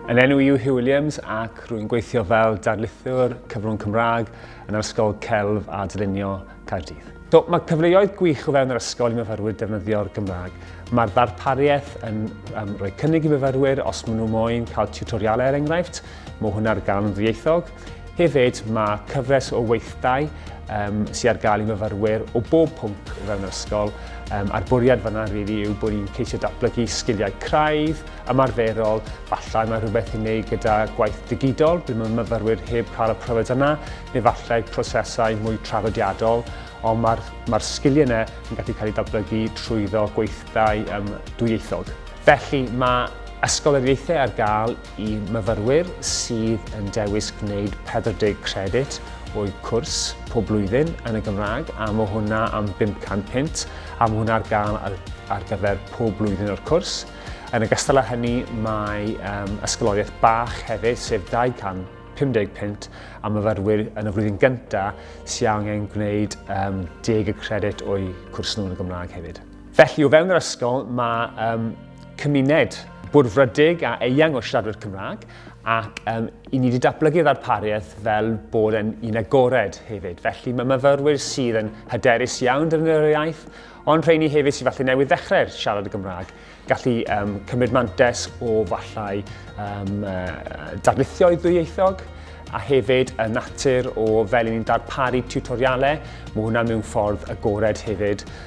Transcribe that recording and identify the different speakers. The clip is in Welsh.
Speaker 1: Yn enw yw Hugh Williams ac rwy'n gweithio fel darlithiwr cyfrwng Cymraeg yn yr Ysgol Celf a Dylunio Caerdydd. Do, mae cyfleoedd gwych o fewn yr ysgol i myfyrwyr defnyddio'r Gymraeg. Mae'r ddarpariaeth yn um, rhoi cynnig i myfyrwyr os maen nhw moyn cael tutorialau er enghraifft. Mae hwnna ar gael yn ddieithog. Hefyd, mae cyfres o weithdai um, sydd ar gael i fyfyrwyr o bob pwnc o fewn yr ysgol, um, a'r bwriad fyna rili really yw bod ni'n ceisio datblygu sgiliau craidd, ymarferol, falle mae rhywbeth i wneud gyda gwaith digidol, bydd mae myfyrwyr heb cael y profiad yna, neu falle prosesau mwy traddodiadol, ond mae'r mae sgiliau yna yn gallu cael eu datblygu trwyddo gweithdai um, dwyieithog. Felly mae Ysgol yr Ieithau ar gael I myfyrwyr sydd yn dewis gwneud 40 credyd o'u cwrs pob blwyddyn yn y Gymraeg, a mae hwnna am 500 punt, a mae hwnna ar gael ar, ar gyfer pob blwyddyn o'r cwrs. Yn ogystal â hynny, mae um, ysgoloriaeth bach hefyd, sef 250 punt am myfyrwyr yn y flwyddyn gyntaf sy'n angen gwneud um, 10 y credyd o'u cwrs nhw yn y Gymraeg hefyd. Felly, o fewn yr ysgol, mae um, cymuned bwrfrydig a eang o siaradwyr Cymraeg ac um, i ni wedi datblygu ddarpariaeth fel bod yn un agored hefyd. Felly mae myfyrwyr sydd yn hyderus iawn defnyddio'r iaith, ond rheini hefyd sydd falle newydd ddechrau siarad y Gymraeg, gallu um, cymryd mantes o fallai um, uh, darlithio i ddwyieithog, a hefyd y natur o fel ni'n darparu tiwtorialau, mae hwnna mewn ffordd agored hefyd